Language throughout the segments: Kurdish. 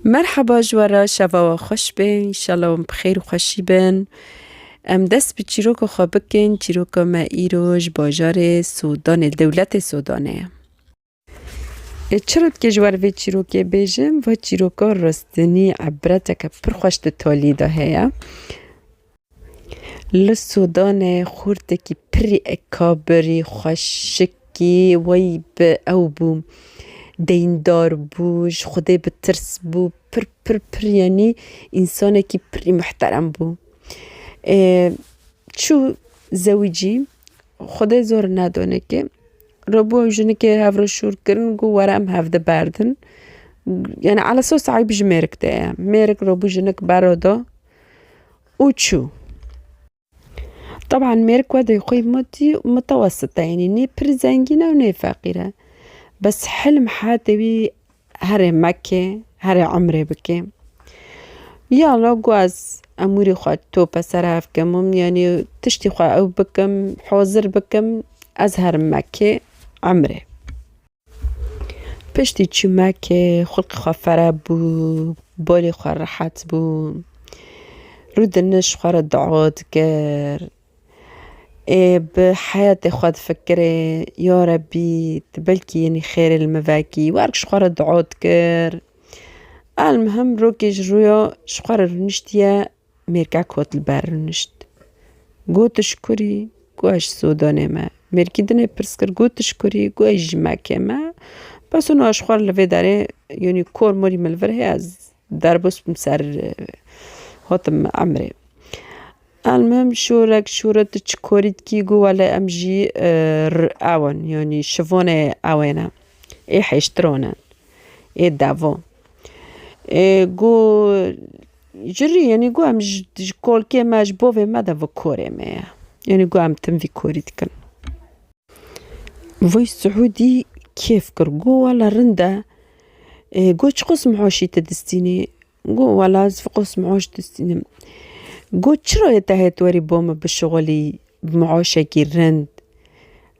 Merhaba ji we re şeva we xweş be înşallah wan bi xêr û xweşî bin. Em dest bi çîroka xwe bikin çîroka me îro ji bajarê Sudanê li dewletê Sudanê ye. Ê çira dikê ji wer vê çîrokê bêjim va çîroka rastinî ebreteke pir xweş di talî de heye. Li Sûdanê xurtekî pirî ekabirî xweşikî wê bi ew bû. Deyndar bû, ji Xwedê bi tirs bû, pir pir pir yanî însanekî pirî mihterem bû. Ê çû zewicî, Xwedê zor nedane ke rabû ew jinekê hevra şûr kirin got were em hev di berdin. Yanî ala esas eyb ji mêrik de ye. Mêrik rabû jinik bera da. û çû. Teban mêr kodê xwe mutî mutewesite yanî nê pir zengîn e û nê feqîr e. Bes hilm hate wî herê meke, herê emrê bike. Ya la guaz emûrê xwe tope ser hev kim û yanî tiştê xwe ew bikim, hozir bikim ez herim meke emrê. Piştî çimekê xulqê xwe fere bû, bolê xwe rehet bû. Rû dinij xwe re dua dikir. Ê bi heyetê xwe difikirê ya rebî tu belkî yenî xêrê li min vekî. Wek ji xwe re dua dikir. Elmuhim rokê ji rûya ji xwe re rûniştiye. Mêrka kot li ber rûnişt. Gotiş kurî ku ez ji Sudanê me. Mêrkî dinê pirs kir gotiş kurî ku ez ji Mekê me. Bes û nûaş xwar li vê derê yanî kor morî min li vir heye ez derbas bûm ser hatim emirê. Elmim şorek şore tu çi korî dikî got wele em jî ew in yanî şivanê ewê ne. Ê hêştiran in ê devan. Ê got Ji rî yanî got em ji kolkê me ji bovê me de vi korê me ye. Yanî got em tim vî korî dikin. Voice Suudî kêf kir got wela rind e. Got çiqas mihoşî tu distînî? Got wela ez fiqas mihoş distînim. Got çira yê te hêt werî bo min bişixulî bi mihoşekî rind?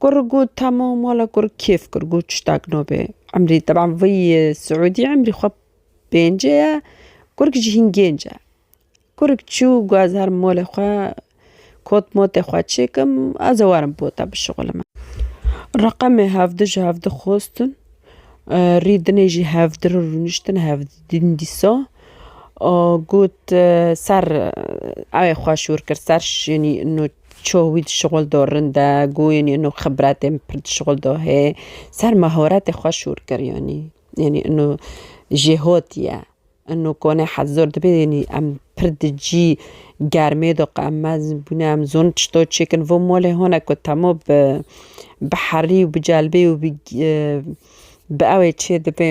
Kur got tamam wala kur kêf kir got tiştak nabe emrî teban vî siûdî emrî xwe pêncê ye kurik jî hîn gênc e. Kurik çû got ez herim malê xwe kot motê xwe çêkim ez ê werim bo te bişixulime. Reqemê hevdu ji hevdu xwestin rî dinê jî hevdu re rûniştin hevdu din dîsa got ser ewê xwe şûr kir ser şênî Çoh wî dişuxul do rind e, goyên ino xibretên pir dişuxul do hê. Ser mahoretê xwe şûr kir yanî. Yanî ino jêhot ye. Ino konê hez zor dibe yanî em pir di cî germê do qe em mezin bûne em zon çito çêkin. Vo malê hone ku temo bi bi herî û bi celbê û bi bi ewê çêdibê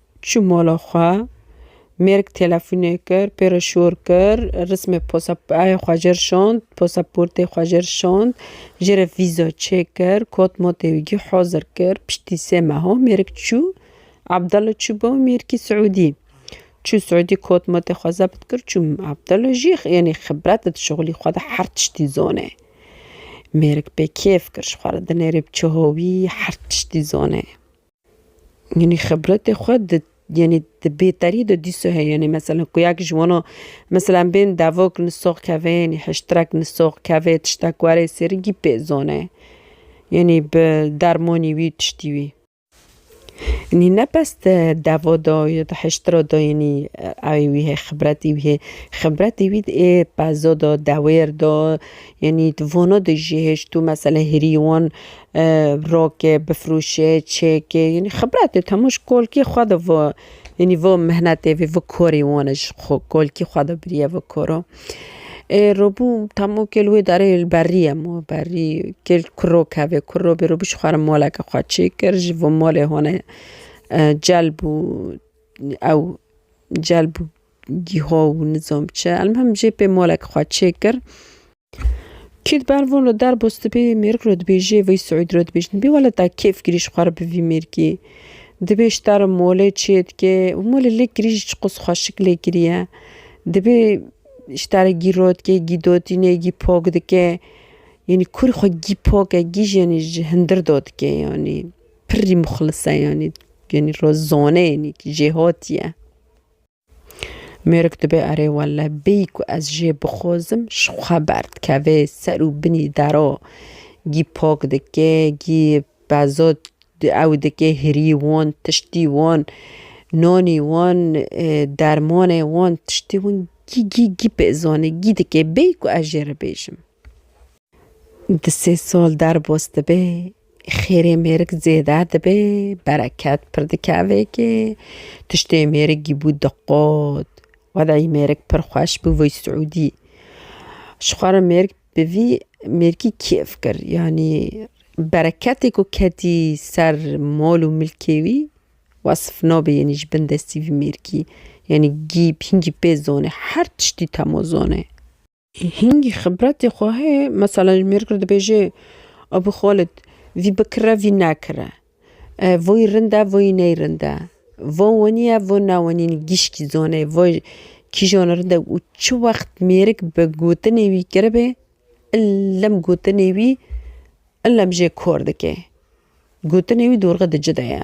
Çû mala xwe. Mêrik telefonê kir, pê re şor kir, rismê pasapayê xwe jê re şand, pasaportê xwe jê re şand, jê re vîza çêkir, kat matê wî jî hazir kir. Piştî sê meha mêrik çû Abdala çû bo mêrikî Siûdî. Çû Siûdî kat matê xwe zebt kir çû Abdala jî yanî xibret di şixulî xwe de her tiştî zane. Mêrik pê kêf kir ji xwe re dinêrê bi çawa wî her tiştî zane. Yanî xibretê xwe di yanî di bêterî de dîsa heye yanî mesela ku yek ji wana mesela em bên devok li sox keve yanî hiştirek li sox keve tiştek were sêrin kî pê zane yanî bi dermanî wî tiştî wî yanî ne bes di deva de ya di hiştira de yanî ew ê wî hê xibretî wî hê xibretê wî di ê peza de dewêr de yanî di vana de jî hê ji to mesela hêrî wan Rokê, bifrûşê, çêkê yanî xibretê hemû ji kolkî xwe de vo yanî vo mihnetê vê vo korê wan e ji xwe kolkî xwe de biriye vo koro. Ê robû hemû kêl wê derê li berrî ye ma berrî kêl kuro kevê kuro bê robû ji xwe re maleke xwe çê kir ji vo malê hone cel bû ew cel bû gîho û nizam çi elmîhim jê pê maleke xwe çê kir. Kîd ber vun ro der bo stibê mêrg ro dibêjê vey Suîd ro dibêjin bî wele da kêf girî ji xwe re bi vî mêrgî. Dibê ji te re molê çê dike û molê lêk girî jî çiqas xweşik lêk giriye. Dibê ji te re gî rot ke gî dotîne gî pok dike. Yanî kurî xwe gî pok e gî jî ji hindir dotike yanî. Pirrî muxlis e yanî yanî ro zone yanî jêhatî ye. Mêrik dibe erê wele bêyî ku ez jê bixozim ji xwe berdikeve ser û binî dero gî pok dike gî pezo ew dike hirî wan tiştî wan nanî wan dermanê wan tiştî wan gî gî gî pêzanî gî dike bêyî ku ez jê re bêjim. Di sê sal derbas dibe, xêrê mêrik zêde dibe, bereket pir dikeve kê, tiştê mêrik gîbû diqot. Wedeyî mêrik pir xweş bû vî Siûdî. Ji xwe re mêrik bi vî mêrikî kêf kir. Yanî bereketê ku ketî ser mal û milkê wî wesf nabe yanî ji bin destî vî mêrikî. Yanî gîb hingî pê zane, her tiştî tema zane. Hingî xibretê xwe heye, mesela ji mêrikir dibêje Abû Xalid, vî bikire vî nekire, voyî rind e voyî ney rind e, vo wenî ye vo ne wenî nî gişkî zone vo kîjan rind e û çi wext mêrik bi gotinê wî kiribe illem gotinê wî illem jê kor dike. Gotinê wî dorxe dicide ye.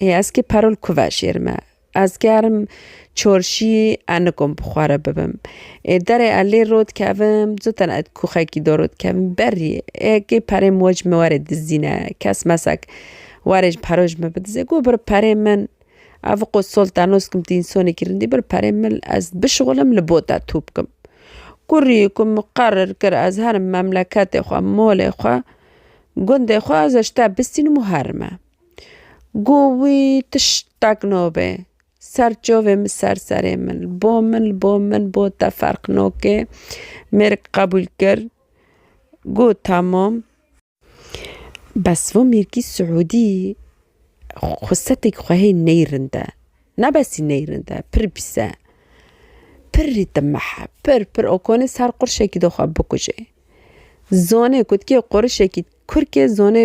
Ê ez ki perul ku veşêrime. Ez gerim çorşî e nikom bi xwe re bibim. Ê derê e lê rot kevim, zûten e kûxekî do rot kevim. Berî, ê kê perê min we ji min were dizdîne, kes mesek were ji pero ji min bidize. Got bir perê min, ev qo solta noskim tu însonekî rindî, bir perê min li ez bişuxilim li bo te tû bikim. Kurî ku min qerir kir ez herim memleketê xwe, molê xwe, gundê xwe ez ji te bistînim û herime. Got wî tiştek nabê ser çavê min ser serê min li bo min li bo min bo te ferq nake mêrik qebûl kir got tamam bes va mêrikî siûdî xusetek xwe hê ney rind e ne besî ney rind e pir pîs e pir rîtimex e pir pir oxanê ser qurşekî de xwe bikuje zanê ku ti kê qurişekî kurkê zanê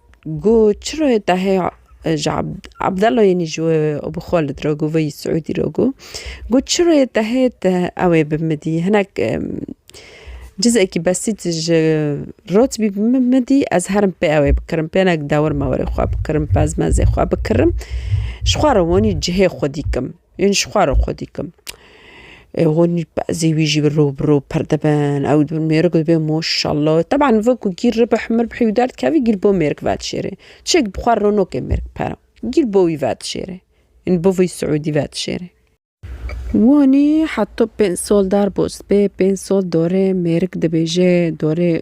Gu çiro ye te heye ji Abdelo yê nî ji we bi xwe li diro gu veyî Siûdî ro gu. Gu çiro ye te heye te ew ê bi min dî hinek cizekî besît ji rotbî bi min min dî ez herim pê ew ê bikirim pê hinek dewir mewirê xwe bikirim pezmezê xwe bikirim ji xwe re wanî cihê xwe dîkim. Ên ji xwe re xwe dîkim. Hûn bezê wî jî rû bi rû pir dibin. Ew dibin mêrik û dibê moşallo. Teban wekû gîr ribih mirbihî wî derdikevî gîr bo mêrik vedişêrê. Çêk bi xwe re ronokê mêrik pere. Gîr bo wî vedişêrê. Ên bo vî siûdî vedişêrê. Wanî heta pênc sal derbas bê, pênc sal dorê mêrik dibêje, dorê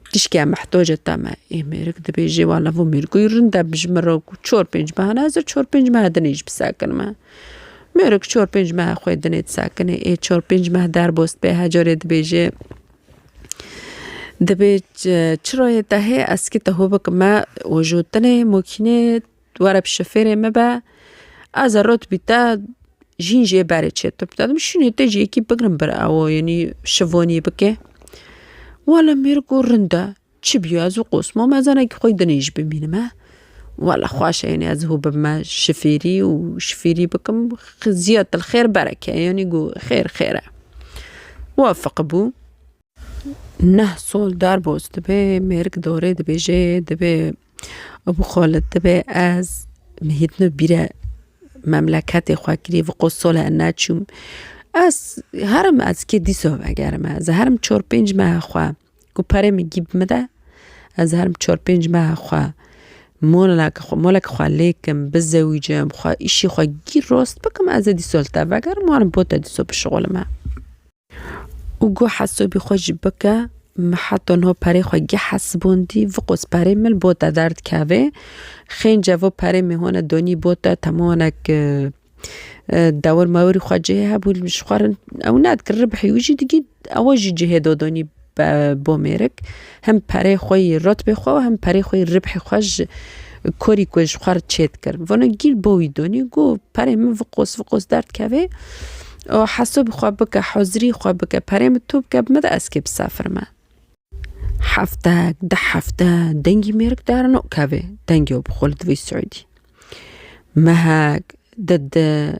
Tişkîya mehtoc e teme. Êmêrik dibêjê wa lavo mêrgûyî rind e bi ji min re ku çor pênc mehe ne ez ê çor pênc mehe dinê jî bisekinim e. Mêrik çor pênc mehe xwe dinê disekinê ê çor pênc meh derbost bê he carê dibêjê Dibê çi rayê te hê eskî te hû bikim me ojotinê mokînê Tu were bi şofêrê min be, ez ê rot bî te, jîn jê berê çê te bide. Dibe şûnê tê jî yekî bigirin bir ew yenî şivonî bike. Wele mêr ku rind e, çi bîyo ez û Qosmo me zanekî xwe dinê jî bimînime. Wele xweş e yenî ez hû bibime şifêrî û şifîrî bikim xiziyet il xêr bereke yenî ku xêr xêr e. Wefiqibû. Neh sol derbas dibe mêrik darê dibêje dibe Ebû Xalid dibe ez mihîtno bîre memleketê xwe kirî vê qo sole ne çûm ez herim ez kê dîsa vegerim ez ê herim çar pênc meha xwe ku perê min gî bimide ez herim çar pênc meha xwe mola ke moleke xwe lê kim bizewicim xwe îşê xwe gîr rast bikim ez ê dîsa li te vegerim wan bo te dîsa bişuxulime. Û go hesabî xwe jî bike, min heta niha perê xwe geh hesibandî, viqos perê min bo te derd kevê, xêin ceva perê min hone danî bo te, temanek dewir mewirî xwe cihê hebû ji xwe re ew nedikin ribihî wî jî digî ewa jî cihê da danî. Bo mêrik hem perê xwe yî rotbê xwe û hem perê xwe yî ribhê xwe ji korî ku ji xwe re çêt kir. Vano gîl bo wî donî got, Perê min viqos viqos derdkevê û heso bi xwe bike, hozirî xwe bike, perê min to bike bi min re ez kê bisefirime. Heftek, deh hefte dengî mêrik dare nokevê, dengê wê bi xwe li divî siûdî. Mehek, dede,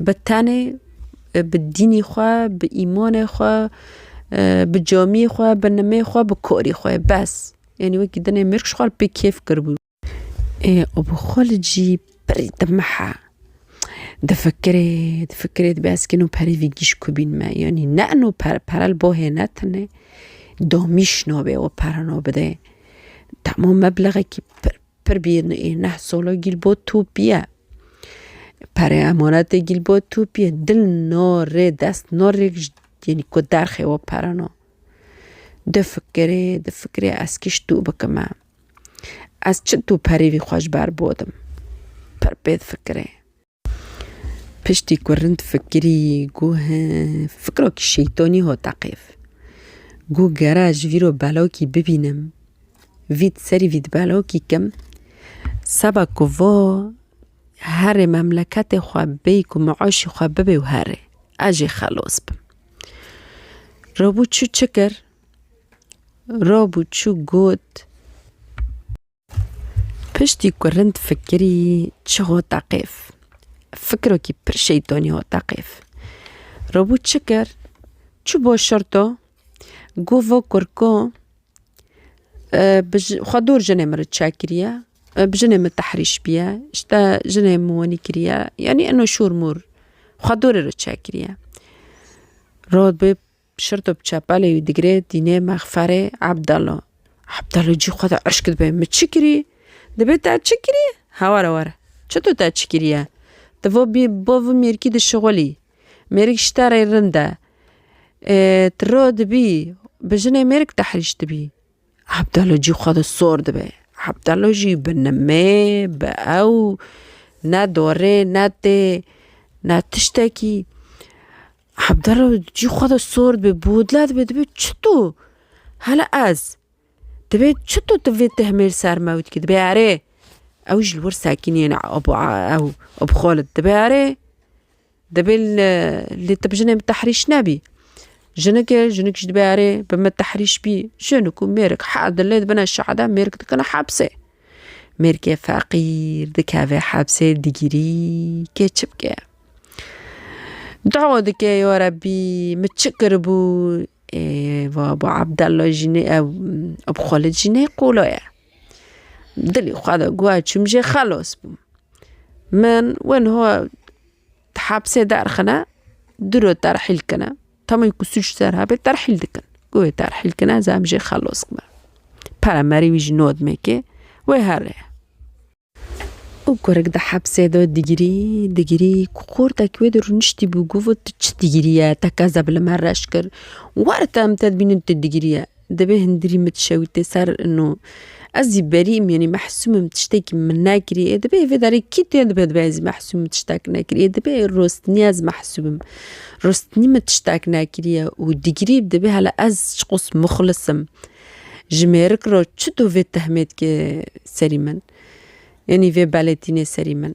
Bi tenê, bi dînî xwe, bi îmanê xwe, bi camiyê xwe, bi nimê xwe, bi karî xwe bes. Yanî wekî dinê mirg ji xwe re pê kêf kiribû. Ê bi xwe li cî pirî dimihe. Difikirê, difikirê dibê ez kî no perî vî gîşk bîn me. Yanî ne ino pere, pere li bo hê ne tune. Damîş nabê ew pere nabide. Dema meblexekî pir Pir bîn ê neh solo gîl bo tu pîye. Perê emanetê gîl bo tu pîye. Dil no rê dest no rêk ji yenî ku derxê wo pere no. Di fikirê di fikirê ez kî ji tu bikime. Ez çi tu perê vî xwe ji ber bodim. Pir pê difikirê. Piştî ku rind fikirî gû he fikirokî şeytonî hat teqîv. Gû gera ez ji vî re belokî bibînim vî di serî vî di belokî kim seba ku va herê memleketê xwe bêyî ku mûşê xwe bibe û herê ez jê xelos bim. Rabû çû çi kir? Rabû çû got. Piştî ku rind fikirî çi hot da qêf. Fikirokî pir şeytonî hot da qêf. Robû çi kir? Çû bo şirto, got vo kurko bi xwe dûr jinê min ri çek kiriye, bi jinê min tehrîş bûye, ji te jinê min wenî kiriye, yanî ino şûr mûr xwe dûrê re çek kiriye. Rod bi Şirto bi çepalê wî digirê dînê mexferê Ebdalo. Ebdalo cî xwe de eşk dibe, Min çi kirî? Dibê te çi kirî? He were were. Çito te çi kiriye? Ti vo bî bo vi mêrikî di şixulî. Mêrik ji te rê rind e. Ê ti ro dibî bi jinê mêrik tehrîş dibî. Ebdalo cî xwe de sor dibe. Ebdalo jî bi nimê, bi ew ne dorê ne tê ne tiştekî. Hebdero cî xwe de sor dibê, bodla dibê, dibê çito hele ez. Dibê çito tu vê tehmêr ser me wî dikî dibê erê. Ew ji li wir sekîniyêne Abu ew Abu Xalid dibê erê. Dibê lê tu bi jinê min tehrîş nebî. Jinik e, jinik jî dibê erê bi min tehrîş bî. Jinik û mêrik heh dilê dibine şehide mêrik dikine hepsê. Mêrkê feqîr dikeve hepsê digîrî kê çi bike. Dua dike ya Rebî min çi kiribû ê vabo Abdella jî nê ew ew Xalid jî nê qola ye. Dilê xwe de guha çûm jê xelas bûm. Min win Di hepsê derxine, du roj terhîl kine. Tamî ku sûc ser hebê terhîl dikin. Ku wê terhîl kine ez em jê xelos bibe. Pere merî wî ji Nodmekê wê here ye. Û kurik di hepsê de digirî digirî ku xortek wê de rûniştîbû got tu çi digirî ye te kez e bi li me reş kir. Were te em te dibînin tu digirî ye. Dibê hindirî min dişewite ser no. Ez zî berî im yanî mehsûm im tiştekî min nekiriye. Dibê vê derê kî tê dibe dibe ez zî mehsûm im tiştek nekiriye. Dibê rostinî ez mehsûm im. Rostinî min tiştek nekiriye û digirî dibê hele ez çiqos muxlis im. Ji mêrik re çi do vê tehmêtkê serî min? Yanî vê beletînê serî min?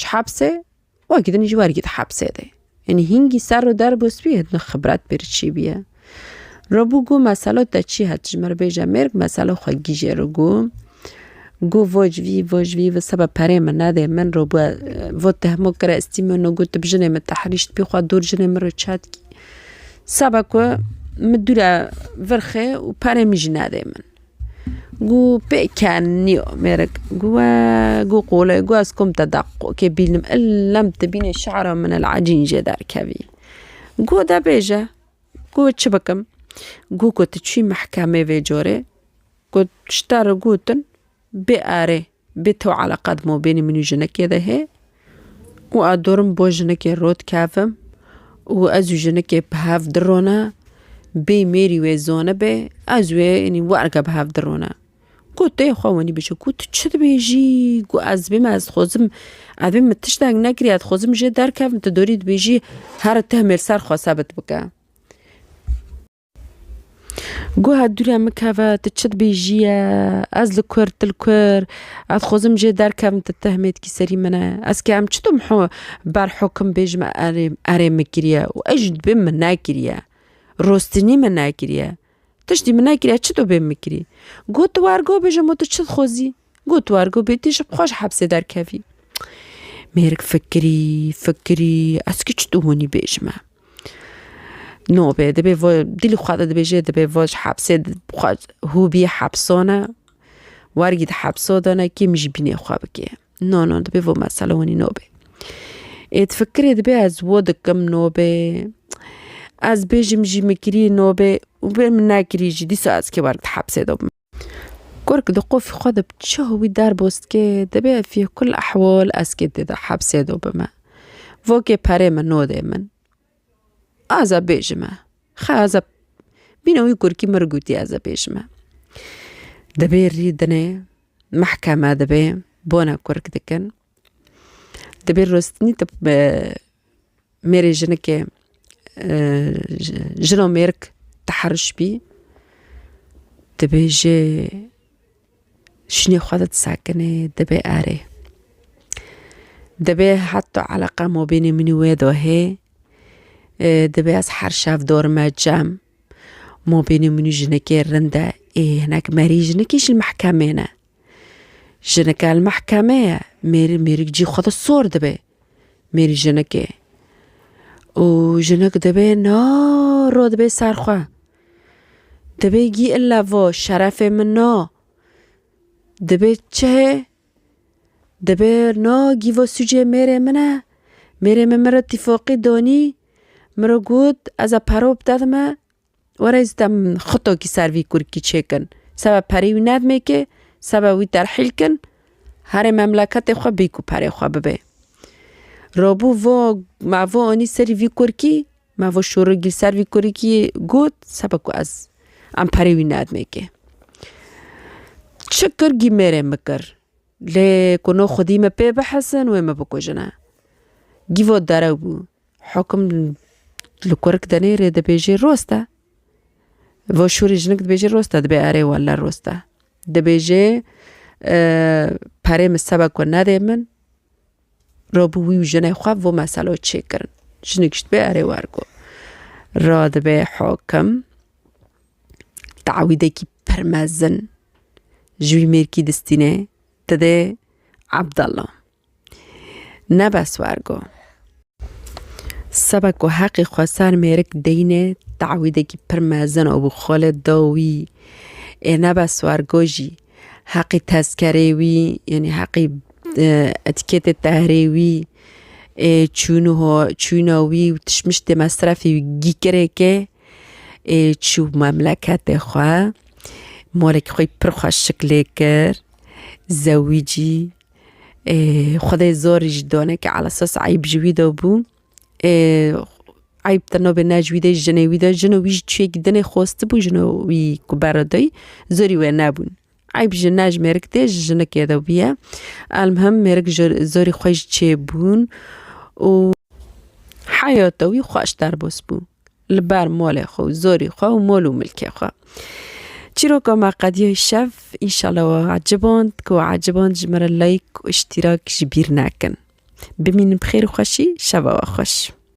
Ji hepsê wekî din jî wergî di hepsê de. Yanî hîngî ser û der bû spî hêdino xibret pê re çî bîye. Ro bû gu meselo te çî het ji min re bêje mêrg meselo xwe gîjê ro gu. Gu voj vî voj vî vi sebe perê min nedê min ro bi vo tehmo kire ez tî meno gu tu bi jinê min tehrîşt bî xwe dûr jinê min re çet kî. Sebe ku min dûre vir xê û perê min jî nedê min. Gu pê ken nîyo mêrik gu we gu qolê gu ez kom te deq qo kê bînim il lem tu bînê şara min il ecîn jê derkevî gu de bêje gu çi bikim gu ku tu çûyî mehkemê vê corê gu ji te re gotin bêerê Bê to eleqa di mabênê min û jinekê de hê û ez dorim bo jinekê rot kevim û ez û jinekê bi hev dirone bê mêrî wê zanibe ez wê enî werge bi hev dirone. Got dayê xwe wenî bije ku tu çi dibêjî ku ez bême ez dixwazim ev ê min tiştek nekiriye ez dixwazim jê derkevim tu dorî dibêjî here tihmêl ser xwe sebit bike. Guha dûre min keve tu çi dibêjî ye, ez li ku ir tu li ku ir, ez xwezim jê derkevim tu tehmêtkî serî min e. Ez kê em çitum ber hukim bêjim erê erê min kiriye û ez jî dibê min nekiriye. Rostinî min nekiriye. Tiştî min nekiriye çi dibê min kirî. Got tu wergo bêje min tu çi dixwezî. Got war ku bêtî ji xwe ji hepsê derkevî. Mêrik fikirî, fikirî, ez kî çi tu hûnî bêjime. Nobê dibê vo dîlî xwe de dibêjê dibê vo ji hepsê xwe hû bî hepsone, wergî di hepso de ne kî min ji bînê xwe bikê. No no dibê vo mesele hûnî nobê. Ê di fikirê dibê ez vo dikim nobê, ez bêjim jî min kirî nobê û bê min nekirî jî dîsa ez kê werg di hepsê de bim. Kurk di qofî xwe de bi çaw wî derbûz dike, dibê ev fî kul ehwal ez kê tê de hepsê de bime. Vokê perê min nodê min. Ez ê bêjime. Xe ez ê bîne wî kurkî mir gotî ez ê bêjime. Dibê rî dinê mehkeme dibê bona kurk dikin. Di bê rostinî tu mêrê jinike jin û mêrg ti heriş bî dibê jê şûnê xwe di ti sekinê dibê erê. Dibê heta eleqa mabênê min û wê de hê dibê ez her şev dor me cem mabênê min û jinekê rind e ê hinek merî jinikî ji mehkemê ne. Jineke li mehkeme ye, mêr mêrik cî xwe di sor dibe. Mêr jinekê. û jinek dibê na ro dibê ser xwe. Dibê gî illa vo şerefê min na. Dibê çihê dibê na gî vo sûcê mêrê min e. Mêrê min min re tîfoqî donî min re got ez e pero bide dime Were ez dem xutokî ser vî kurikî çêkin. Sebe perê wî nedmêkê, sebe wî terhîl kin, herê memleketê xwe bêk û perê xwe bibê. Robû vo me vo anî serî vî kurikî, me vo şorogî li ser vî kurikî got sebe ku ez em perê wî nedmêkê. Çi kir gî mêrê min kir. Lê ku no xwedî min pê bihesin wê min bikujine. Gî vo derew bû. Hukum li kurik denê rê dibêjê rost e. Vo şûrê jinik dibêjê rost e dibê erê wele rost e. Dibêjê perê min sebe ku nedê min ra bi wî û jinê xwe vo meselo çêkirin. Jinik jî dibê erê wergo. Ra dibê hukim tewîdekî pir mezin ji wî mêrkî distînê didê Ebdala. Ne bes war go. Seba ku heqê xwe ser mêrik deyne tawîdekî pir mezin û bi xolê da wî. Ê ne bes war go jî. Heqê tezkerê wî yanî heqê etiketê tehrê wî ê çûn û ho çûna wî û tişt miştê mesrefê wî gîkirêke ê çû memleketê xwe. Malekî xwe pir xweş şiklê kir. Zewîcî. Ê xwedê zor ji donekî elesos eyb ji wî de bû. Ê eyb te nabê ne ji wî de ji jinê wî de jin û wî ji çiyekî din ê xwestibû jin û wî ku beredayî zorî wê nebûn. Eyb ji ne ji mêrik tê ji jinikê de bûye. Elmuhim mêrik ji zorî xwe ji çê bûn û heyata wî xweş derbas bû. Li ber molê xwe û zorî xwe û mol û milkê xwe. Çîroka me qediyê şev înşallah we eciband ku we eciband ji me re like û îştîrak ji bîr nekin. Bimînin bi xêr û xweşî şeva we xweş.